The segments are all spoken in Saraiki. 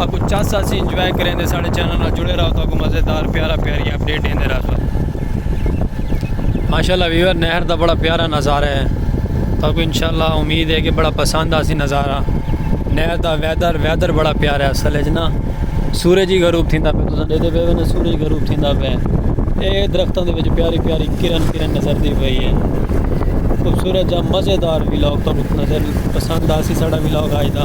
اکوں چس آسی انجوائے کریں دے ساڑے چینل نال جڑے راہو تاکوں مزیدار پیارا پیاری اپ ڈیٹ ڈیندے راہسوں ماشاءاللہ ویور نہر دا بڑا پیارا نظارہ ہے تاکوں انشاءاللہ امید ہے کہ بڑا پسند آسی نظارہ نہر دا ویدر ویدر بڑا پیارا ہے اصل اچ نا سورج ہی غروب تھیندا پہ تساں ڈیدے پے نا سورج غروب تھیندا پہ اے درختوں دے وچ پیاری پیاری کرن کرن نظر دی پئی ہے خوبصورت جا مزیدار ویلاگ تاکوں نظر پسند آسی ساڑا ویلاگ آج دا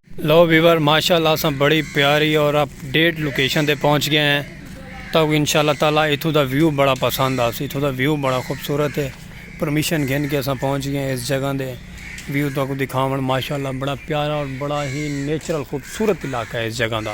لو ویور ماشاءاللہ اساں بڑی پیاری اور اپ ڈیٹ لوکیشن تے پہنچ گئے ہیں تو انشاءاللہ تعالی اتھوں دا ویو بڑا پسند آسی اتھوں دا ویو بڑا خوبصورت ہے پرمیشن گھن کے اساں پہنچ گئے ہیں اس جگہ دے ویو تو کو دکھاون ماشاءاللہ بڑا پیارا اور بڑا ہی نیچرل خوبصورت علاقہ ہے اس جگہ دا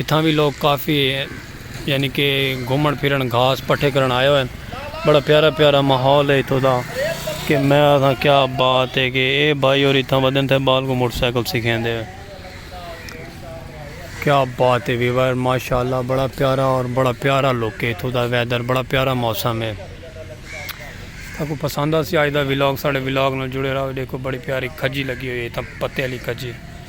اتھاں وی لوگ کافی یعنی کہ گھومن پھرن گھاس پٹھے کرن آئے ہوئے بڑا پیارا پیارا ماحول ہے اتھوں دا کہ میں آساں کیا بات ہے کہ اے بھائی اور اتھاں ودن تھے بال کو موٹر سائیکل سیکھیں دے کیا بات ہے ویور ماشاءاللہ بڑا پیارا اور بڑا پیارا لوک ہے اتھوں دا ویدر بڑا پیارا موسم ہے تاکو پسند آسی آج دا ویلوگ ساڑے ویلوگ نال جڑے رہو دیکھو بڑی پیاری کھجی لگی ہوئی ہے اتھاں پتے علی کھجی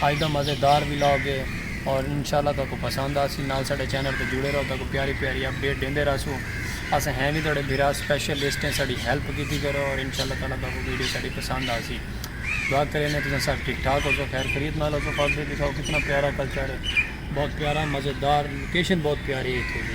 اج دا مزے دار ولاگ ہے اور انشاءاللہ تہاکوں پسند آسی نال ساڈے چینل تے جڑے رہو تہاکوں پیاری پیاری اپ ڈیٹ ڈیندے رہسوں اساں ہیں وی تہاڈے بھرا سپیشلسٹ ہیں ساڈی ہیلپ کیتی کرو اور انشاءاللہ تعالی تہاکوں ویڈیو ساڈی پسند آسی دعا کریندے تساں سب ٹھیک ٹھاک ہوسو خیر خیریت نال ہوسو فاک دے دکھاؤ کتنا پیارا کلچر ہے بہت پیارا مزے دار لوکیشن بہت پیاری ہے اتھوں دی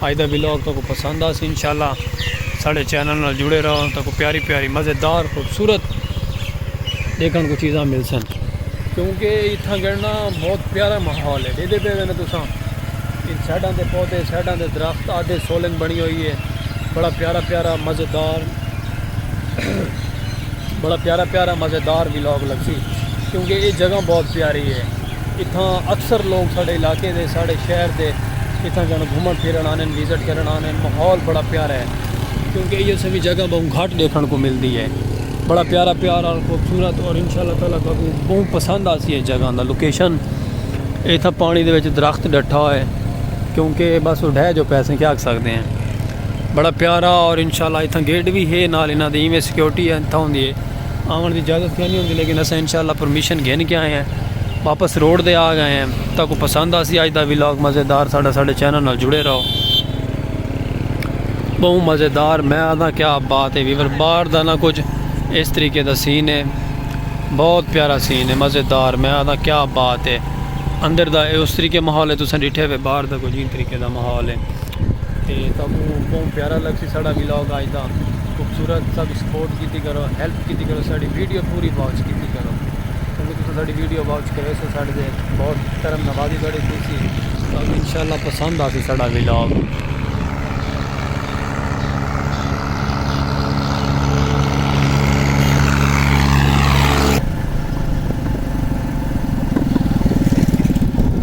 اج دا ولاگ تہاکوں پسند آسی انشاءاللہ ساڈے چینل نال جڑے رہو تہاکوں پیاری پیاری مزیدار خوبصورت ڈیکھن کوں چیزاں ملسن کیونکہ اتھاں گڑنا بہت پیارا ماحول ہے ڈیدے پے وینے تساں ان سائیڈاں دے پودے سائیڈاں دے درخت آدھے سولنگ بنی ہوئی ہے بڑا پیارا پیارا مزیدار بڑا پیارا پیارا مزیدار ولاگ لگسی کیونکہ یہ جگہ بہت پیاری ہے اتھاں اکثر لوگ ساڈے علاقے دے ساڈے شہر دے اتھاں جانوں گھمن پھرن آندن وزٹ کرن آندن ماحول بڑا پیارا ہے کیونکہ ایہو سویں جگہ بہوں گھٹ ڈیکھن کو ملدی ہے بڑا پیارا پیار اور خوبصورت اور انشاءاللہ تعالی تہاکوں بہوں پسند آسی اس جگہ دا لوکیشن اتھاں پانی دے وچ درخت ڈٹھا ہوئے کیونکہ بس اڈھے جو پیسے کیا کر سکتے ہیں بڑا پیارا اور انشاءاللہ اتھاں گیٹ بھی ہے نال انہاں دی ایویں سیکیورٹی اتھاں ہوندی ہے آون دی اجازت کیا نہیں ہوندی لیکن اساں انشاءاللہ پرمیشن گھن کے آئے ہیں واپس روڈ دے آ گئے ہیں تاکو پسند آسی آج دا ویلاگ مزیدار ساڑھا ساڑھے چینل نال جڑے رہو بہو مزیدار میں آدھا کیا بات ہے ویور بار دا نہ کچھ اس طریقے دا سین ہے بہت پیارا سین ہے مزیدار میں آدھا کیا بات ہے اندر دا اس طریقے محول ہے تو سن ڈٹھے ہوئے بار دا کچھ ان طریقے دا محول ہے تو بہو پیارا لگ سی ساڑھا ویلاگ آج دا خوبصورت ساڈی سپورٹ کیتی کرو ہیلپ کیتی کرو ساڈی ویڈیو پوری واچ کیتی کرو کیونکہ تساں ساڈی ویڈیو واچ کرے سو ساڈے تے بہت کرم نوازی تہاڈی تھیسی تہاڈو انشاءاللہ پسند آسی ساڈا ولاگ۔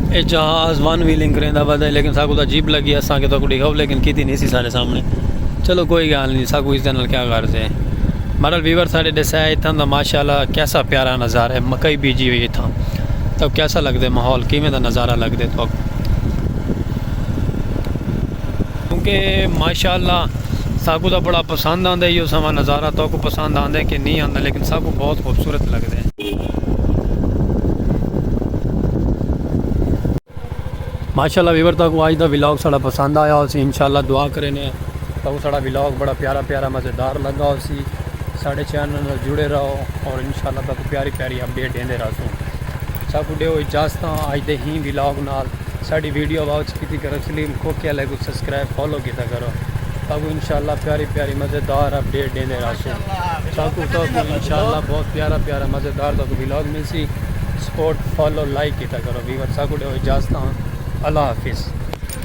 اے جہاز ون ویلنگ کریں دا بدا ہے لیکن ساکو دا جیب لگی ہے ساکو دا کو دیکھاؤ لیکن کیتی نہیں سی سارے سامنے چلو کوئی گال نہیں ساکو اس دن کیا غرض ہے مرل بیور سارے دے سائے اتھاں دا ماشاءاللہ کیسا پیارا نظارہ ہے مکئی بیجی ہوئی اتھاں تو کیسا لگ دے محول کیمیں دا نظارہ لگ دے تو کیونکہ ماشاءاللہ ساکو دا بڑا پسند آن دے یہ سوا نظارہ تو کو پسند آن دے کہ نہیں آن دے لیکن ساکو بہت خوبصورت لگ دے ماشاءاللہ ویور تاکو آج دا ویلاگ ساڑا پسند آیا ہو سی انشاءاللہ دعا کرینے ہیں تاکو ساڑا ویلاگ بڑا پیارا پیارا مزیدار لگا ہو سی ساڑے چینل نہ جڑے رہو اور انشاءاللہ تاکو پیاری پیاری اپڈیٹ دیندے رہا سوں ساکو دے ہو اجازتہ آج دے ہی ویلاگ نال ساڑی ویڈیو واچ کیتی کرو سلیم کھوکے علیہ کو سبسکرائب فالو کیتا کرو ساکوں انشاءاللہ پیاری پیاری مزیدار اپڈیٹ ڈیندے رہسو ساکوں تہاکوں انشاءاللہ بہت پیارا پیارا مزیدار تہاکوں ولاگ ملسی سپورٹ فالو لائک کیتا کرو ویور ساکوں ڈیو اجازتاں اللہ حافظ۔